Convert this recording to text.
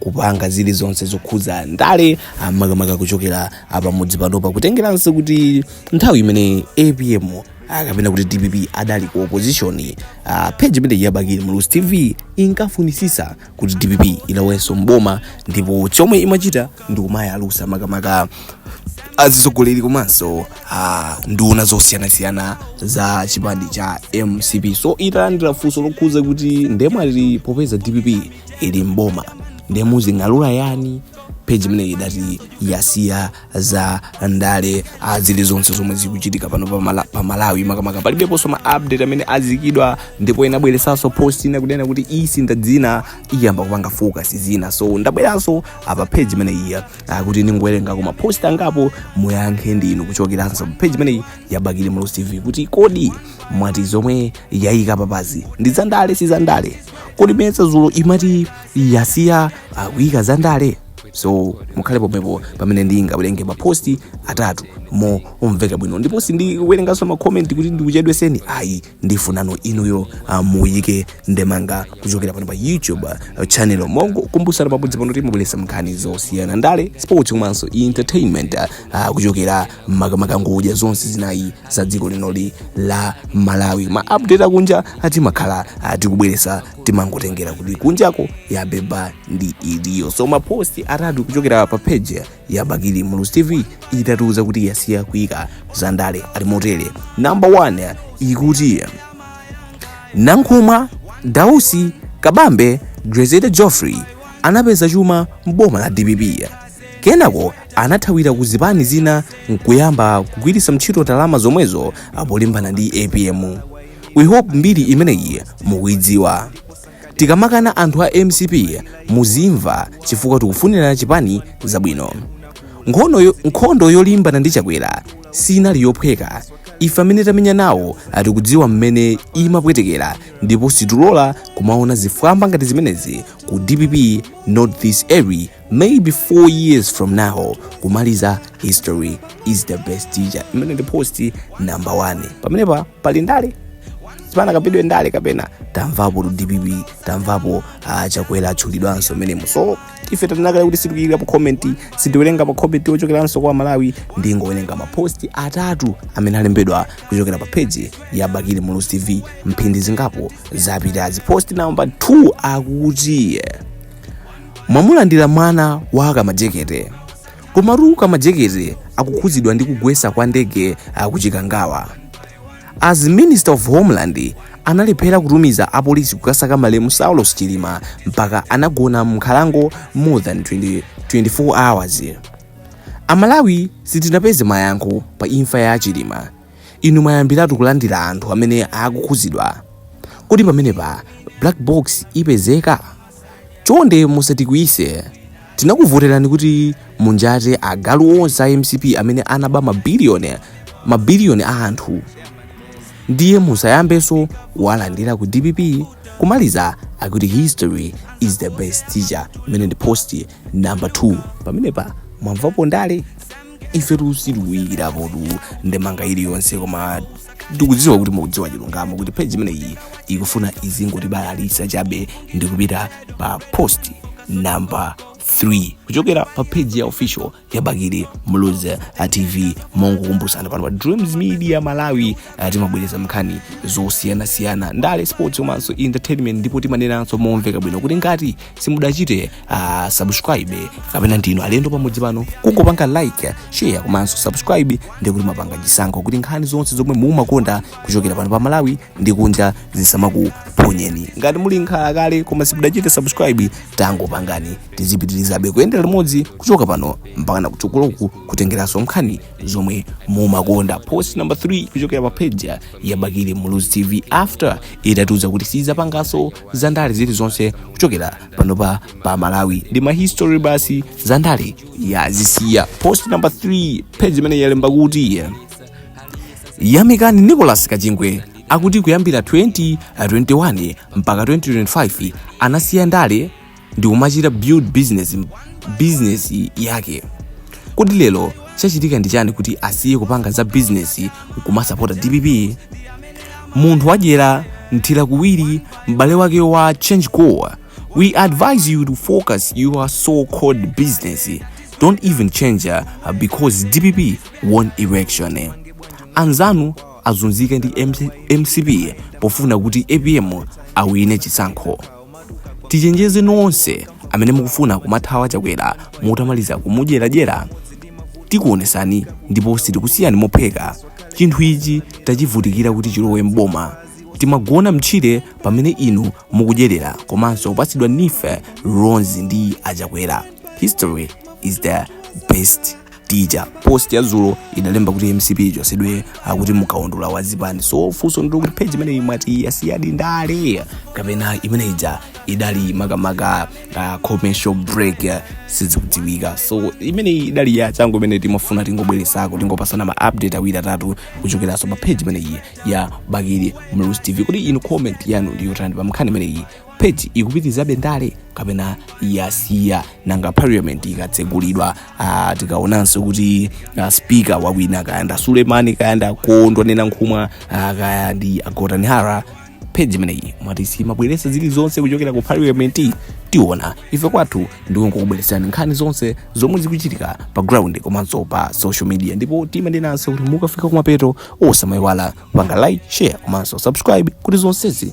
kupanga zilizonse zokhudza ndale ah, makamaka kuchokera pamudzi pano pakutengeranso kuti nthawi imene apm ah, kapena kuti dpp adali ku opposition ah, page imene ya bakili muluzi tv inkafunisisa kuti dpp ilowenso mboma ndipo chomwe imachita ndi kumayalusa makamaka azitsogoleri komanso ah, nduna zosiyanasiyana za chipani cha mcp so italandira funso lokhuza kuti nde mwati popeza dpp ili mboma ndiye muzing'alula yani page imeneyi idati yasiya za ndale ah, zilizonse zomwe zikuchitika pano pa Mala- pa malawi makamaka palibeponso ma update amene aziikidwa ndipo inabweresanso post ina kunena kuti isintha dzina iyamba kupanga focus zina so ndabweranso apa page imeneyi ah, kuti ndingowerengako ma post angapo muyankhe ndinu kuchokeranso pa page imene ya bakili muluzi tv kuti kodi mwati zomwe yayika apapazi ndi zandale si zandale kodi mesa zulo imati yasiya uh, kuyika za ndale so mukhale pomwepo pamene ndingawerenge maposti atatu momveka bwino ndipo sindiwerenganso makomenti kuti ndikuchedweseni ayi ndifunano inuyo uh, muyike ndemanga kuchokera pano pa youtube uh, channel mongokumbusana pamudzi pano timabweresa nkhani zosiyana ndale sports komanso entertainment uh, kuchokera makamaka ngodya zonse zinayi za dziko linoli la malawi ma update akunja ah, timakhala tikubweresa timangotengera kuti kunjako yabeba ndi itiyo so maposti atatu kuchokera pa page ya bakili muluzi tv itatiuza kuti yasiya kuyika za ndale ali motere number 1 ikuti nankhumwa dausi kabambe grezelder jeffrey anapeza chuma mboma la dpp Kenako anathawira ku zipani zina nkuyamba kugwiritsa ntchito ndalama zomwezo polimbana ndi apm. We hope mbiri imeneyi mukuidziwa. Tikamakana anthu a mcp muzimva chifukwa tikufunira chipani zabwino. Nkhondo yo- Nkhondo yolimbana ndi Chakwera sinali yophweka. Ife amene tamenya nawo tikudziwa mmene imapwetekera ndipo situlola kumaona zifwamba ngati zimenezi ku dpp not this early maybe 4 years from now kumaliza history is the best teacher imeneyo ndi post number 1 pamenepa pali ndale sipanakambidwe ndale kapena tamvapo dpp tamvapo uh, chakwera atchulidwanso mmenemo so ife tanena kale kuti sitikuyikirapo comment sitiwerenga ma comment ochokeranso kwa amalawi ndingowerenga mapost atatu amene alembedwa kuchokera pa page ya bakili muluzi tv mphindi zingapo zapitazi post number 2 akuti mwamulandira mwana wa kamajekete komatu kamajekete akukhudzidwa ndi kugwetsa kwa ndege akuchikangawa as minister of homeland analephera kutumiza apolisi kukasaka malemu saulos chilima mpaka anagona mnkhalango more than 24 hours amalawi sitinapeze mayankho pa imfa ya achilima Inu mwayambiratu kulandira anthu amene akukhuzidwa. Kodi pamenepa black box ipezeka? Chonde musatikwiyise. Tinakuvoterani kuti munjate agalu onse a mcp amene anaba mabiliyoni mabiliyoni a anthu. Ndiye musayambenso kuwalandira ku dpp kumadziwa akuti history is the best teacher imene ndi post number 2 pamenepa mwamvapo ndale ife sitikuyikirapotu ndemanga iliyonse koma tikudziwa kuti mukudziwa chilungamo kuti page imeneyi ikufuna izingotibalalisa chabe ndikupita pa post number 3 kuchokera pa page ya official ya bakili muluzi tv mongokumbusana pano pa dreams media malawi ah, timabwereza mkhani zosiyanasiyana ndale sports komanso entertainment ndipo timanenanso momveka bwino kuti ngati simudachite uh, subscribe kapena ndinu alendo pamudzi pano kungopanga like share komanso subscribe ndiye kuti mwapanga chisankho kuti nkhani zonse zomwe mumakonda kuchokera pano pa malawi ndi kunja zisamakuphonyeni ngati muli nkhalakale koma simudachite subscribe tangopangani tizipitirizabe kuyendera limodzi kuchoka pano mpakana kutsogoloku kutengeranso nkhani zomwe mumakonda post number 3 kuchokera pa page ya bakili muluzi tv after itatiuza kuti sizapanganso zandale zilizonse kuchokera panopa pa malawi ndi mahistory basi zandale yazisiya post number 3 page imeneyi yalemba kuti yamikani nicolas kachingwe akuti kuyambira 2021 mpaka 2025 anasiya ndale ndikumachita build business business yake kodi lero chachitika ndi chani kuti asiye kupanga za business nkumasapota dpp munthu wadyera mthira kuwiri m'bale wake wa change goal we advise you to focus your so called business don't even change uh, because dpp won election anzanu azunzika ndi MC, mcp pofuna kuti apm awine chisankho tichenjeze nonse amene mukufuna kumathawa achakwera mutamaliza kumudyeradyera tikuonesani ndipo sitikusiyani mophweka chinthu ichi tachivutikira kuti chilowe mboma timagona mtchire pamene inu mukudyerera komanso kupatsidwa NEEF loans ndi achakwera history is the best tija post ya zulo idalemba kuti mcp ichotsedwe akuti mkaundula wa zipani so funso ndilo kuti page imeneyi mwati yasiyadi ndale kapena imene ija idali makamaka uh, commercial break uh, sizikudziwika so imeneyi idali ya changu imene timafuna tingobweresako tingopasana ma update awiri atatu kuchokeranso pa page imeneyi ya bakili muluzi tv kuti inu comment yanu ndiyotani pa nkhani imeneyi page ikupitirizabe ndale kapena yasiya nanga parliament ikatsegulidwa ah, tikaonanso kuti ah, speaker wawina kaya ndi a suleman kaya ndi a kondwani nankhumwa ah, kaya ndi a gotani hara page imeneyi mwati simabweretsa zilizonse kuchokera ku parliament tiona ife kwathu ndikungokubweretserani nkhani zonse zomwe zikuchitika pa ground komanso pa social media ndipo timanenanso kuti mukafika kumapeto osamayiwala panga like share komanso subscribe kuti zonsezi